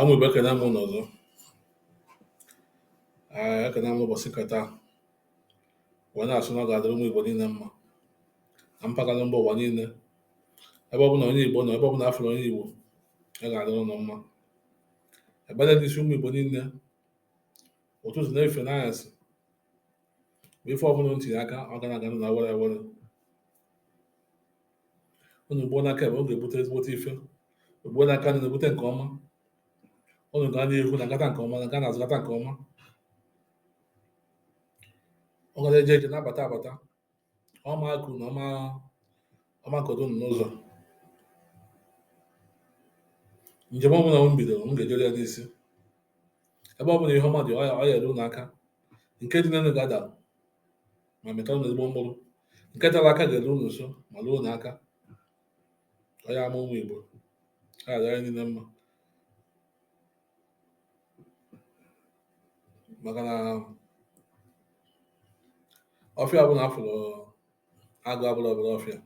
Ụmụ Igbo ekene m unu ọzọ Ee, ekene m ụbọchị nke taa wee na-asị na ọ ga-adịrị ụmụ Igbo niile mma na mpaghara mba ụwa niile ebe ọbụla onye Igbo nọ ebe ọbụla afụrụ onye Igbo ọ ga-adịrị unu mma ebere n'isi ụmụ Igbo niile ụtụtụ na efifie n'anyasị bụ ife ọbụla unu tinye aka ọ ga na-aga na were were unu gbuo n'aka ekpe ọ ga-ebute ezigbote ife gbuo n'aka nni na-ebute nke ọma unu gaa n'ihu na gata nke ọma na gaa n'azụ gata nke ọma ọ gara eje eje na-abata abata ọma akụ na ọma ọma kodo unu n'ụzọ njem ọbụla unu bidoro unu ga-ejeru ya n'isi ebe ọ bụla ihe ọma dị ọ ya-eru unu aka nke dị n'elu ga-ada ma mịta unu ezigbo mkpụrụ nke tere aka ga-eru unu nso ma ruo unu aka anyị bụ ụmụ Igbo ọ ya-adịrị anyị niile mma maka na ọfịa ọbụla afụrụ agụ abụrọ obele ọfịa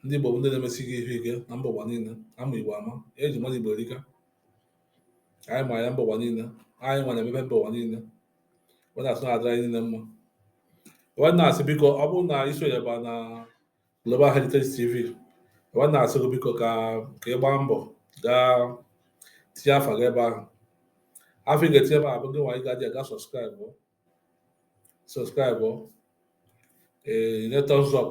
ndị Igbo bụ ndị na-emesi ife ike na mba ụwa niile ama Igbo ama eji mara Igbo erika anyị ma ya mba ụwa niile anyị nwa na-emepe mba ụwa niile wee na-asị na ọ dịrị anyị niile mma wee na-asị biko ọ bụrụ na i sonyeba na Global Heritage TV wee na-asị gị biko ka ka ị gbaa mbọ gaa tinye afa gị ebe ahụ afa ị ga-etinye ebe ahụ bụ gị nwa ị gaji aga subscribe subscribe ee nye thumbs up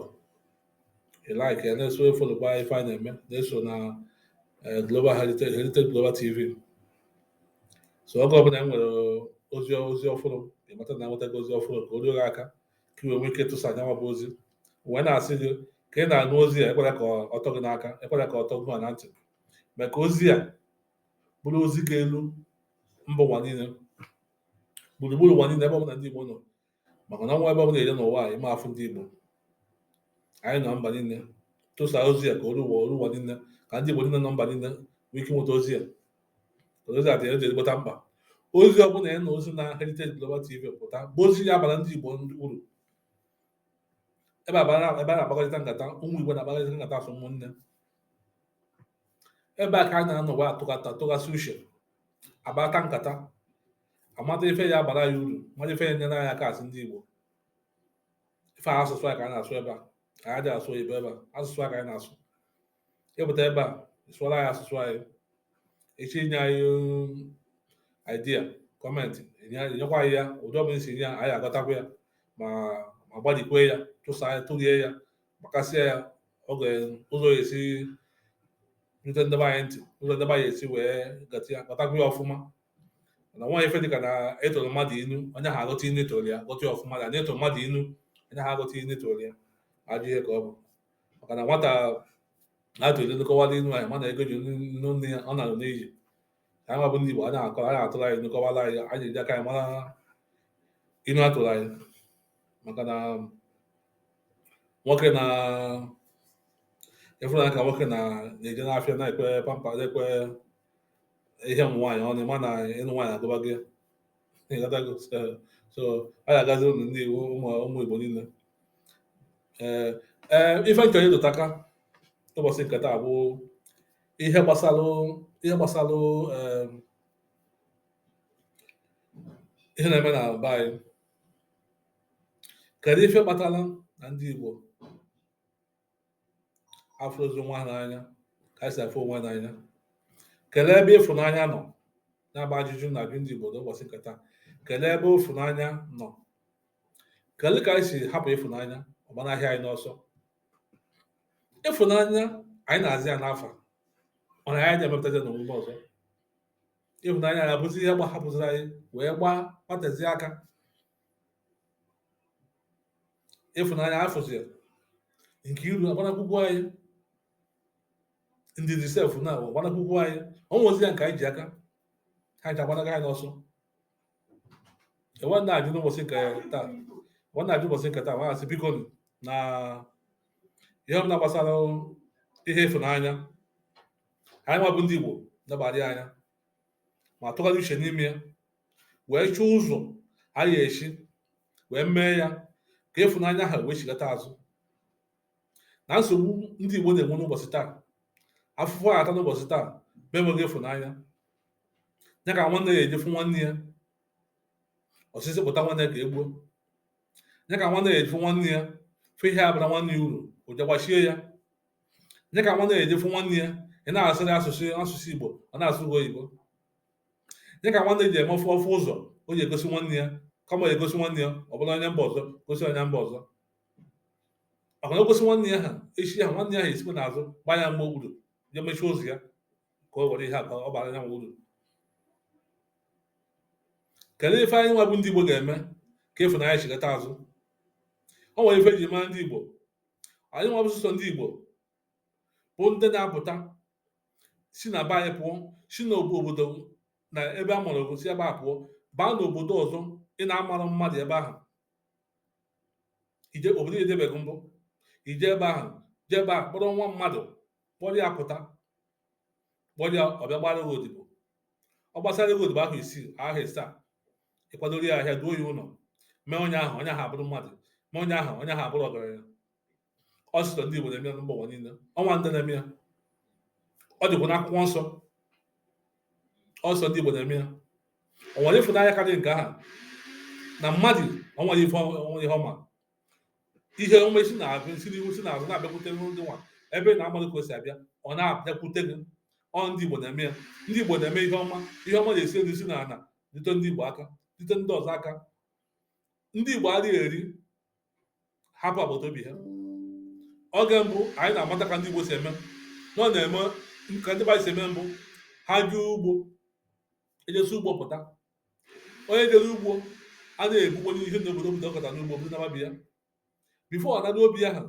ị like ya na-eso efolokwa ife a na-eme na-eso na eh, Global Heritage Heritage Global TV so oge ọbụla e nwere ozi ozi ọfụrụ ị mata na enwetago ozi ọfụrụ ka o ruo gị aka ka i wee nwee ike tụsa ya nwa bụ ozi wee na-asị gị ka ị na-anụ ozi a ekwela ka ọ tọ gị n'aka ekwela ka ọ tọ gị na ntị mee ka ozi a bụrụ ozi ga-elu mba ụwa niile gburugburu ụwa niile ebe ọbụla ndị Igbo nọ maka na o nwerọ ebe ọ bụla dị n'ụwa a ị ma afụ ndị Igbo anyị nọ mba niile tụsa ozi a ka o ruo ụwa o ruo ụwa niile ka ndị Igbo niile nọ mba niile nwee ike nweta ozi a ozi a dị ezigbote mkpa ozi ọ bụla ị nụrụ si na Heritage Global TV pụta bụ ozi ya-abara ndị Igbo uru ebe a na-akpakọrịta nkata ụmụ Igbo na-akpakọrịta nkata asụ ụmụnne ebe a ka a na-anọwa atụghasị uche akparịta nkata amata ife ya abara anyị uru mata ife ya enyere anyị aka asị ndị Igbo ife a asụsụ anyị ka anyị na-asụ ebe a anyị adị asụ oyibo ebe a asụsụ anyị ka anyị na-asụ ịpụta ebe a sụọra anyị asụsụ anyị echi inye anyị um, idea comment enye- enyekwa anyị ya ụdị ọbụla isi nye ya anyị agọtakwa ya ma ma gbalikwe ya tụsa ya tụrie ya gbakasịa ya oge ụzọ ya esi rute nde be anyị ntị ụzọ nde be anyị esi wee gọta ya gọtakwa ya ọfụma na nwa ife dịka na atụọrọ mmadụ inu onye ahụ agọta inu atụọrọ ya gọta ya ọfụma na na atụọrọ mmadụ inu onye ahụ agọta inu atụọrọ ya ajọ ihe ka ọ bụ maka na nwata atụrụ inu kọwara inu anyị ma na ego eji nụ nne ya ọ nara n'iyi anyị nwa bụ ndị Igbo anyị akọ anyị atụrụ anyị inu kọwara anyị anyị eji aka anyị mara inu atụrụ anyị maka na nwoke na ịfụnanya ka nwoke na na-eje n'afịa na-ekwe pamper na-ekwe ihe ụmụ nwaanyị ọnụ ị ma na ịnụ nwaanyị agụba gị ịghọtago so so a ga-agazi ụlọ ndị Igbo ụmụ ụmụ Igbo niile ee ee ife nchọrọ ịrụtụ aka ụbọchị nke taa bụ ihe gbasalụ ihe gbasalụ em, ihe na-eme na be anyị kedu ife kpatara na ndị Igbo afụrọzi onwe ha n'anya ka anyị si afụ onwe n'anya kelee ebe ịfụnanya nọ nya bụ ajụjụ m na-ajụ ndị Igbo n'ụbọchị nke taa kelee ebe ịfụnanya nọ kelee ka anyị si hapụ ịfụnanya ọ gbanahịa anyị n'ọsọ ịfụnanya anyị na-aza ya n'afa mana anyị na-emepụtazi n'omume ọzọ ịfụnanya anyị abụzi ihe gbahapụziri anyị wee gbatezie aka ịfụnanya afụzi nke iru agba n'akụkụ anyị ndị dị sef na-agba n'akụkụ anyị ọ nwezi ya nke anyị ji aka ha ncha agbanago anyị n'ọsọ wee na-ajụ n'ụbọchị nke taa wee na-ajụ ụbọchị nke taa wee na-asị biko na ihe ọbụla gbasara ihe ịfụnanya anyị nwa bụ ndị Igbo nebadi anya ma tụgharịa uche n'ime ya wee chọọ ụzọ a ya esi wee mee ya ka ịfụnanya ahụ wee chigata azụ na nsogbu ndị Igbo na-enwe n'ụbọchị taa afụfụ a ata n'ụbọchị taa bụ enweghị ịfụnanya ya ka nwanne ya eji fụ nwanne ya ọsịsị pụta nwanne ya ka egbuo ya ka nwanne ya eji fụ nwanne ya fụ ihe abara nwanne ya uru o je gbachie ya ya ka nwanne ya eji fụ nwanne ya ị na-asụrụ asụsụ asụsụ Igbo ọ na-asụ gị oyibo dịka nwanne ji eme ọ fụ ọ fụ ụzọ o ji egosi nwanne ya kama ya egosi nwanne ya ọ bụla onye mba ọzọ gosi onye mba ọzọ maka na o gosi nwanne ya ha echi ya nwanne ya ha esikwa n'azụ gbaa ya mgba okpuru je mechie ụzọ ya ka o were ihe a ka ọ bara ya nwa uru kedu ife anyị nwa bụ ndị Igbo ga-eme ka ịfụnanya chigata azụ o nwere ife e ji mara ndị Igbo anyị nwa bụ sọsọ ndị Igbo bụ ndị na-apụta si na be anyị pụọ si n'obodo na ebe a mụrụ gị si ebe a pụọ baa n'obodo ọzọ ị na-amarọ mmadụ ebe ahụ i je obodo i jebeghị mbụ i je ebe ahụ jee ebe a kpọrọ nwa mmadụ kpọrọ ya pụta kpọrọ ya ọ bịa gbara gị odibo ọ gbasara gị odibo afọ isii afọ isaa ị kwadoro ya ahịa duo ya ụlọ mee onye ahụ onye ahụ abụrụ mmadụ mee onye ahụ onye ahụ abụrụ ọgaranya ọ sọsọ ndị Igbo na-eme ya na mba ụwa niile o nwere ndị na-eme ya ọ dịkwa n'akwụkwọ nsọ ọ sọsọ ndị Igbo na-eme ya o nwere ịfụnanya karịrị nke aha na mmadụ o nwere ife o nwe ihe ọma ihe ọma si na-abịa si n'ihu si n'azụ na-abịakwute gị nwa ebe ị na-amarọ ka o si abịa ọ na-abịakwute gị ọ ndị Igbo na-eme ya ndị Igbo na-eme ihe ọma ihe ọma na-esi elu si n'ala rute ndị Igbo aka rute ndị ọzọ aka ndị Igbo adịghị eri hapụ agbata obi ha oge mbụ anyị na-amata ka ndị Igbo si eme na ọ na-eme ka ndị Igbo si eme mbụ ha jee ugbo e jesịa ugbo pụta onye jere ugbo a na-ebukwa ihe na obodo obodo ọ kọta n'ugbo bunaba be ya before ọ naruo obi ya ha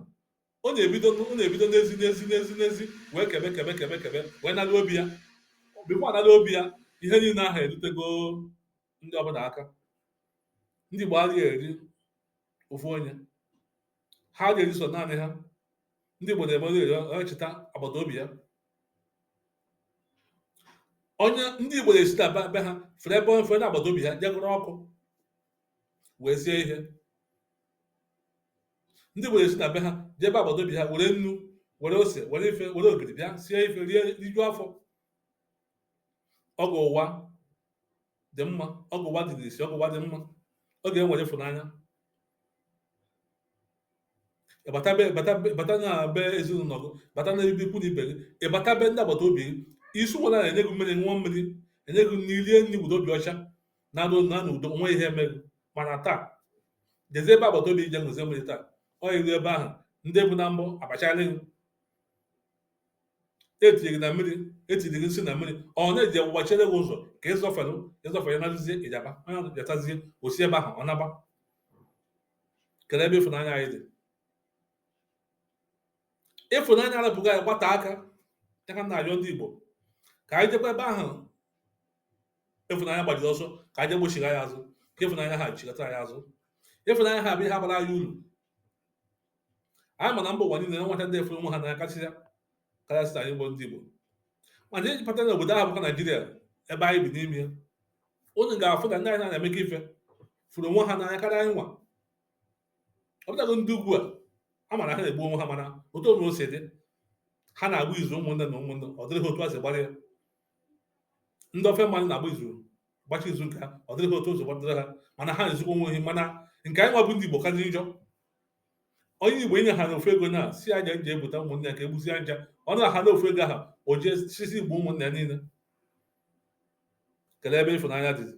ọ na-ebido ọ na-ebido n'ezi n'ezi n'ezi n'ezi wee kebe kebe kebe kebe wee naruo obi ya before ọ naruo obi ya ihe niile ahụ erutego ndị ọbụla aka ndị Igbo adịghị eri ofu onye ha adịghị eri so naanị ha ndị Igbo na-eme onye cheta agbata obi ya onye ndị Igbo na-esi na be be ha fere ebe onye fere n'agbata obi ha jee gụrụ ọkụ wee sie ihe ndị Igbo na-esi na be ha jee ebe agbata obi ha were nnu were ose were ife were ogiri bịa sie ife rie rijuo afọ oge ụwa dị mma oge ụwa dị n'isi oge ụwa dị mma oge e nwere ịfụnanya ị bata be bata be bata na be ezinụlọ gị bata na ebe ikwu na ibe gị ị bata be ndị agbata obi gị isi ụwa na-enye gị mmiri ṅụọ mmiri e nye gị nri rie nri were obi ọcha naruo n'udo nwe ihe mere gị mana taa jezie ebe agbata obi je ṅụzie mmiri taa ọ i ru ebe ahụ ndị bụ na mbụ abachara gị etinye gị na mmiri etinye gị nsị na mmiri ọ na-eji ọgwụ gbachere gị ụzọ ka ịzọfere ịzọfere nazie ịjaba onye ahụ jatazie osi ebe ahụ ọ naba kelee ebe ịfụnanya anyị dị ịfụnanya arapụgo anyị gbata aka ya ka m na-ayọ ndị Igbo ka anyị jekwa ebe ahụ ịfụnanya gbajiri ọsọ ka anyị gbochiri anyị azụ ka ịfụnanya ahụ chigata anyị azụ ịfụnanya ahụ bụ ihe ga-abara anyị uru anyị ma na mba ụwa niile enwecha ndị afụrọ onwe ha n'anya kasịa karịsịa anyị bụ ndị Igbo mana ị je bata na obodo ahụ bụkwa Naijiria ebe anyị bi n'ime ya unu ga-afụ na ndị anyị na-emekọ ife fụrụ onwe ha n'anya karịa anyị nwa ọ bụtago ndị ugwu a a mara ha na-egbu onwe ha mana otu onwe o si dị ha na-agba izu ụmụnne na ụmụnne ọ dịrị ha otu a si gbara ya ndị ofe mmanụ na-agba izu gbachi izu nke ha ọ dịrị ha otu ụzọ gbadoro ha mana ha na-ezukwa onwe ha mana nke anyị nwa bụ ndị Igbo karịrị njọ onye igbo inye ha na ofu ego na sị nya je bute ụmụnne ya ka egbuzi aja ọ na ha na ofu ego ahụ o jee sisi igbu ụmụnne ya niile kelee ebe ịfụnanya dịzi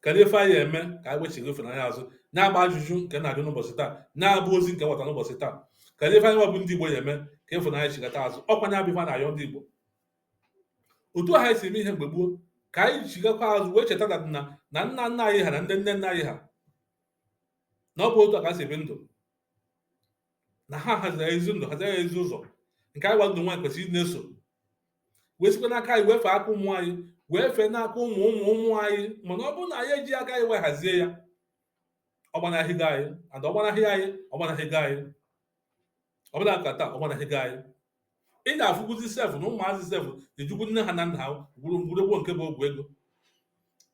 kedu ife anyị eme ka anyị wechigha ịfụnanya azụ nya bụ ajụjụ nke m na-ajụ n'ụbọchị taa nya bụ ozi nke m weta n'ụbọchị taa kedu ife anyị nwa bụ ndị igbo ya-eme ka ịfụnanya chigata azụ ọkwa nya bụ ife m na-ayọ ndị igbo otu a ha si eme ihe mgbe gboo ka anyị chigakwa azụ wee cheta na na nna nna anyị ha na ndị nne nna anyị ha na ọ bụ otu a ka ha si ebi ndụ na ha haziri ezi ndụ haziri ezi ụzọ nke anyị nwa ọdụ nwa anyị kwesịrị na-eso wee sikwa n'aka anyị wee fee aka ụmụ anyị wee fee n'aka ụmụ ụmụ ụmụ anyị mana ọ bụrụ na anyị eji aka anyị wee hazie ya ọ gbanahịgo anyị ada ọ gbanahị anyị ọ gbanahịgo anyị ọbụna ka taa ọ gbanahịgo anyị ị na-afụkwuzi sef na ụmụazị sef ejikwu nne ha na nna ha gwọrọ ọgwụ nke bụ ọgwụ ego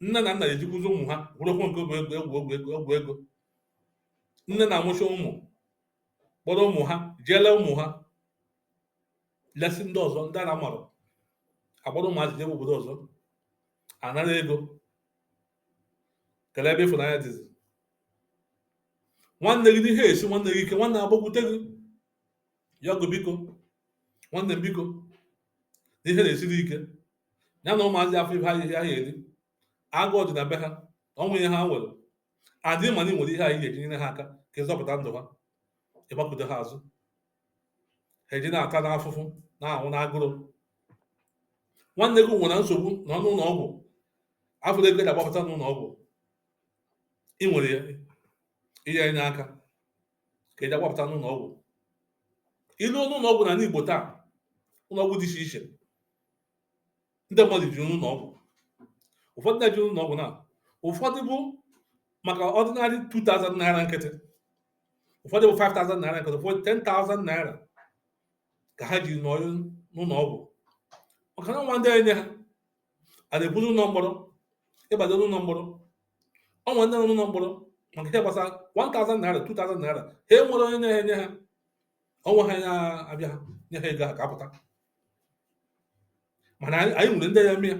nne na nna ejikwuzi ụmụ ha gwọrọ ọgwụ nke bụ ọgwụ ego nne na-amụcha ụmụ kpọrọ ụmụ ha jee lee ụmụ ha lesi ndị ọzọ ndị a na-amarọ a kpọrọ ụmụazị jebe obodo ọzọ a nara ego kelee ebe ịfụnanya dịzi nwanne gị n'ihe esi nwanne gị ike nwanne agbakwute gị yọọ gị biko nwanne m biko na ihe na-esiri ike ya na ụmụazị afụrọ ihe ha eri agụụ dị na be ha o nwerọ ihe ha nwere adị mana ị nwere ihe ahụ ị ga-eji nyere ha aka ka ị zọpụta ndụ ha ị gbakute ha azụ eji na-ata n'afụfụ na-anwụ n'agụrụ nwanne gị nwere nsogbu nọ n'ụlọ ọgwụ afụrọ ego eji agbapụta n'ụlọ ọgwụ ị nwere ya ihe enye aka ka eji agbapụta n'ụlọ ọgwụ i luo n'ụlọ ọgwụ n'anị Igbo taa ụlọ ọgwụ dị iche iche ndị mmadụ jiri n'ụlọ ọgwụ ụfọdụ na-eji ụlọ ọgwụ na ụfọdụ bụ maka ordinary 2000 naira nkịtị ụfọdụ bụ 5000 naira nkịtị ụfọdụ 10000 naira ka ha jiri nọrọ n'ụlọ ọgwụ maka na enwerọ ndị enye ha a na-eburu ụlọ mkpọrọ ịbado n'ụlọ mkpọrọ o nwere ndị nọ n'ụlọ mkpọrọ maka ihe gbasara 1000 naira 2000 naira ha enwerọ onye na-enye ha ọnwa ha na-abịa ha nye ha ego ha ka apụta mana anyị nwere ndị ya eme ya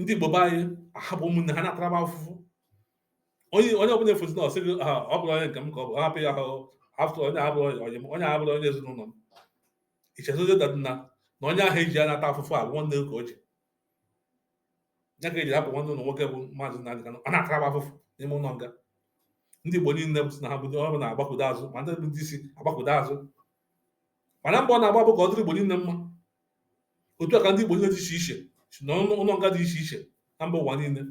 ndị igbo be anyị ahapụ ụmụnne ha na-ataraba afụfụ onye onye ọbụla efozi na ọ sị gị ha ọ bụrọ onye nke m ka ọ bụ hapụ ya ahụ afọ onye abụrọ onye onye m onye abụrọ onye ezinụlọ m ichezọzi that na na onye ahụ eji ya na-ata afụfụ a bụ nwanne gị ka o ji ya ka eji hapụ nwanne unu nwoke bụ maazị Nnamdi Kanu ọ na-ataraba afụfụ n'ime ụlọ nga ndị igbo niile bụ sị na ha bụ ọ bụ na-agbakụdo azụ ma ndị bụ ndị isi agbakụdo azụ mana mbọ ọ na-agba bụ ka ọ dịrị Igbo niile mma otu a ka ndị Igbo niile dị iche iche si na ụlọ nga dị iche iche na mba ụwa niile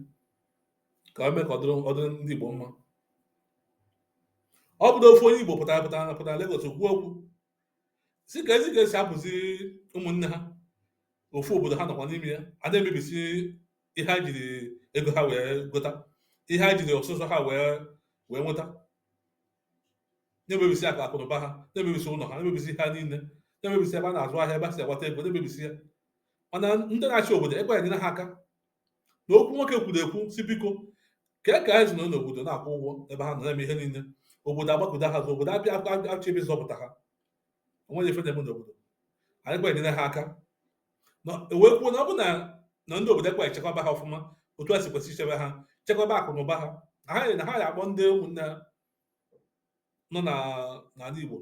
ka o mee ka ọ dịrị ndị Igbo mma ọ bụrụ ofu onye Igbo pụtara pụtara na pụtara Lagos kwuo okwu sị ka ezi ka esi apụzi ụmụnne ha ofu obodo ha nọkwa n'ime ya a na-emebisi ihe ha jiri ego ha wee gota ihe ha jiri ọsụsọ ha wee wee nweta na-emebisi akụ akụnụba ha na-emebisi ụlọ ha na-emebisi ha niile na-emebisi ebe ha na-azụ ahịa ebe ha si akpata ego na-emebisi ya mana ndị na-achị obodo ekwe enyere ha aka na okwu nwoke kwuru ekwu sị biko ka e ka anyị si nọ n'obodo na-akwụ ụgwọ ebe ha nọ na-eme ihe niile obodo agbakụdo ha azụ obodo abịa echebe zọpụta ha onweghị ife na-eme n'obodo ekwe enyere ha aka na o wee kwuo na ọ bụ na na ndị obodo ekwe echekwaba ha ọfụma otu ha si kwesị ichebe ha chekwaba akụ na ụba ha na ha na ha ya akpọ ndị ụmụnne ha nọ na n'ala Igbo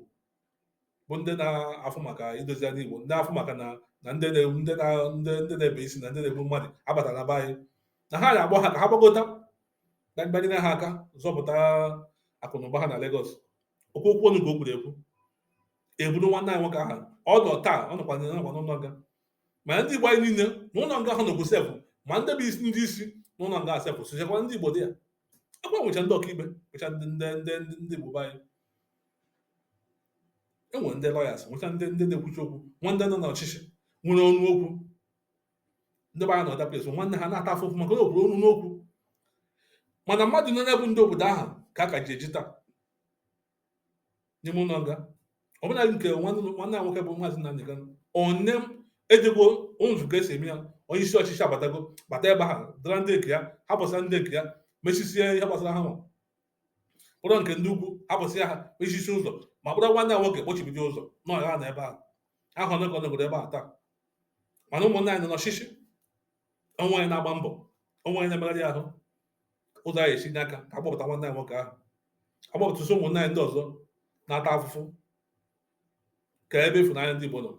bụ ndị na-afụ maka idozi ala Igbo ndị afụ maka na na ndị na-egbu ndị na ndị ndị na-ebe isi na ndị na-egbu mmadụ abata na be anyị na ha ya akpọ ha ka ha gbagota ka bịa nyere ha aka zọpụta akụ na ụba ha na Lagos okwu okwu ọnụ ka o kwuru ekwu eburu nwanne anyị nwoke ahụ ọ nọ taa ọ nọkwa nọkwa n'ụlọ nga ma ndị igbo anyị niile n'ụlọ nga ahụ nọkwu sef ma ndị bụ isi ndị isi n'ụlọ nga sef sochakwa ndị igbo dị ya akwa nwecha ndị ọkaikpe nwecha ndị ndị ndị ndị ndị igbo be anyị enwere ndị lawyers nwecha ndị ndị na-ekwuchi okwu nwee ndị nọ n'ọchịchị nwere ọnụ okwu ndị be anyị na other place nwanne ha na-ata afụfụ maka na obodo ọnụ n'okwu mana mmadụ niile bụ ndị obodo ahụ ka a ka ji eji taa n'ime ụlọ nga ọbụna nke nwanne anyị nwoke bụ maazị Nnamdi Kanu onye ejego nzukọ esi eme ya onye isi ọchịchị abatago bata ebe ha dara ndị nke ya hapụsịa ndị nke ya mechisie ihe gbasara ha nwa kpọrọ nke ndị ugwu hapụsịa ha mechisi ụzọ ma kpọrọ nwanne anyị nwoke kpọchibido ụzọ na ọ ya-anọ ebe ahụ ahụ onye ka ọ nọgoro ebe a taa mana ụmụnne anyị nọ n'ọchịchị o nweghị onye na-agba mbọ o nweghị onye na-emegharị ahụ ụzọ a ya-esi nye aka ka a gbapụta nwanne anyị nwoke ahụ gbapụtasịa ụmụnne anyị ndị ọzọ na-ata afụfụ kee ebe ịfụnanya ndị Igbo nọ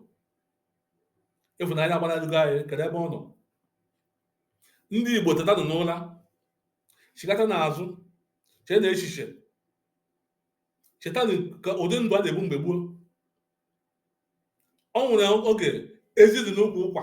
ịfụnanya agbanarịgo anyị kedu ebe ọ nọ ndị Igbo tetanụ n'ụra chigatanụ azụ cheenụ echiche chetanụ ụdị ndụ a na-ebi mgbe gboo o nwere oge ezi dị n'ukwu ụkwa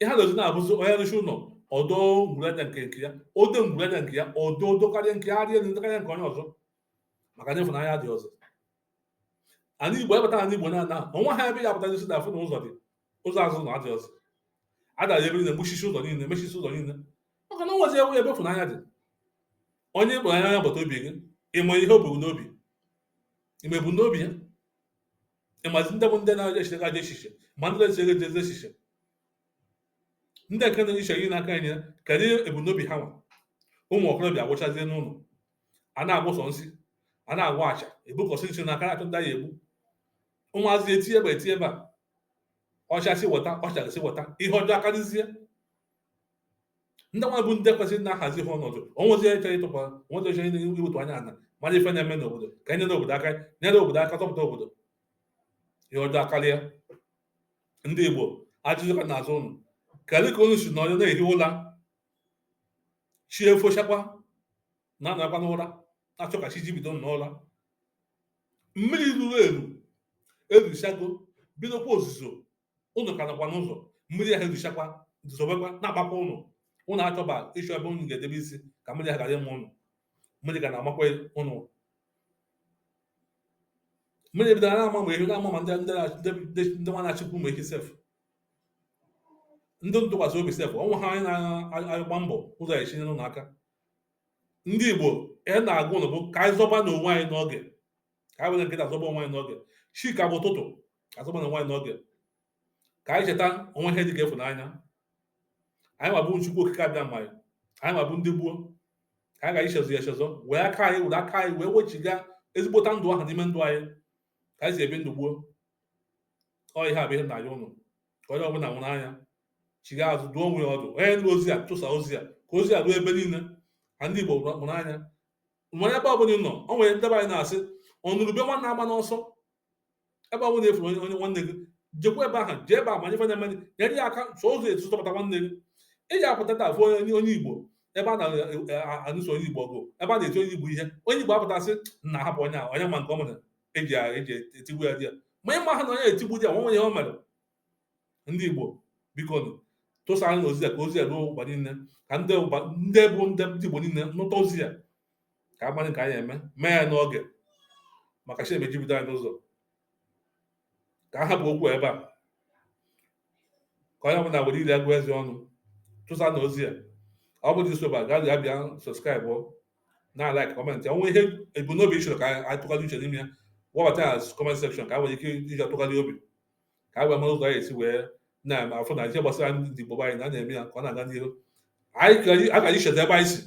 ihe a na-eji na-abụzi onye rụchaa ụlọ ọ dọọ ngwuru aja nke ya ọ dọọ ngwuru aja nke ya ọdọ odo karịa nke arịa elu ndị karịa nke onye ọzọ maka na ịfụnanya adịghị ọzọ ala igbo ị bata ala igbo na-ana ọnwa ha ebe ya apụta jisi na afụ na ụzọ dị ụzọ azụ na adị ọzọ adara ebe niile gbachisie ụzọ niile mechisie ụzọ niile maka na o nwezi ebe ịfụnanya dị onye ị kpọrọ onye agbata obi gị ị ma ihe o bu n'obi ị ma ebumnobi ya ị mazi ndị bụ ndị na-echere gị ajọ echiche ma ndị na-echere gị ezi echiche ndị nke na-eche ihe n'aka anyị kedu ebumnobi ha nwa ụmụ okorobịa agwụchazie n'ụlọ a na-agwọ sọ nsi a na-agwọ acha ebukọsị nsi n'aka na-achọ ndị a ya-egbu ụmụazị etie ebe a etie ebe a ọchasị weta ọchasị weta ihe ọjọọ akarịzie ndị nwa bụ ndị kwesịrị na-ahazi ha ọnọdụ onwezi eche ịtụkwa onwezi eche iwetu anya ana mara ife na-eme n'obodo ka e nyere obodo aka nyere obodo aka tọpụta obodo ihe ọjọọ akarịa ndị igbo ajụjụ ka m na-ajụ ụnụ kedu ka unu si nọrọ na-ehi ụla chi efochakwa unu nọkwa n'ụra na-achọ ka chi jibido n'ụra mmiri ruru eru eruchago bidokwa ozuzo ụnụ ka nọkwa n'ụzọ mmiri ahụ eruchakwa zobekwa na-agbakwa ụnụ ụnụ achọba ịchọ ebe ụnụ ga-edebe isi ka mmiri ahụ ghara ịma ụnụ mmiri ga na-amakwa ụnụ mmiri bidoro na-ama ma ehi na-ama ma ndị ndị nwa na-achịkwa ụmụ ehi sef ndị ntụkwasị obi sef o nweghị onye na-agba mbọ ụzọ ọ ya-esi nyere ụnụ aka ndị igbo ihe m na-agwa ụnụ bụ ka anyị zọbanụ onwe anyị n'oge ka anyị were kịta zọba onwe anyị n'oge chi ka bụ ụtụtụ a zọbanụ onwe anyị n'oge ka anyị cheta o nwere ihe dị ka ịfụnanya anyị mabu chukwu okike abịama anyị anyị mabu ndị gboo ka anyị ghara ichezọ ya echezọ wee aka anyị were aka anyị wee wechiga ezigbote ndụ ahụ n'ime ndụ anyị ka anyị si ebi ndụ gboo ọ ihe a bụ ihe m na-ayọ ụnụ ka onye ọbụla mụrụ anya chiga azụ duo onwe ya ọdụ onye nụrụ ozi a chụsa ozi a ka ozi a ruo ebe niile ka ndị igbo mụrụ anya nwere ebe ọbụla ị nọ o nwere ndị be anyị na-asị ọnụrụ ube nwanne agbana ọsọ ebe ọbụla ị fụrụ onye onye nwanne gị jekwa ebe ahụ jee ebe a mara ife na-eme nyere ya aka so ụzọ etu zọpụta nwanne gị ị ji apụta taa fụ onye onye igbo ebe a na-anụso onye igbo ọgụ ebe a na-eti onye igbo ihe onye igbo apụta sị na ahapụ onye a onye ma nke o mere eji eji etigbu ya di ya ma ị maha na onye etigbu di ya nwa onye ihe o mere ndị Igbo biko tụsanụ ozi a ka ozi a ruo ụwa niile ka ndị bụ ndị Igbo niile nụta ozi a ka a mara ka anyị eme mee ya n'oge maka chi emejibido anyị n'ụzọ ka a hapụ okwu ebe a ka onye ọbụla were ire ya gụọ eze ọnụ tụsanụ ozi a ọ bụrụ isoba gaa ya bịa subscribe na like comment o nwee ihe ebumnobi ị chọrọ ka anyị tụgharị uche n'ime ya webata ya comment section ka e nwee ike iji atụgharị obi ka e wee mara ụzọ anyị esi wee na-afụ na ihe gbasara ndị Igbo anyị na na-eme ya ka ọ na-aga n'ihu ka anyị cheta ebe anyị si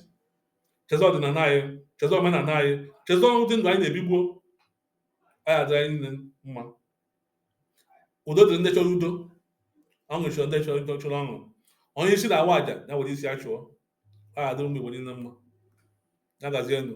cheta ọdịnala anyị cheta omenala anyị cheta ụdị ndụ anyị na-ebi gboo ọ ya-adịrị anyị niile mma udo dịrị ndị chọrọ udo ọṅụ chọrọ ndị chọrọ ọṅụ onye isi na-awa aja ya were isi ya chụọ a adịrị ụmụ Igbo niile mma ya gazienụ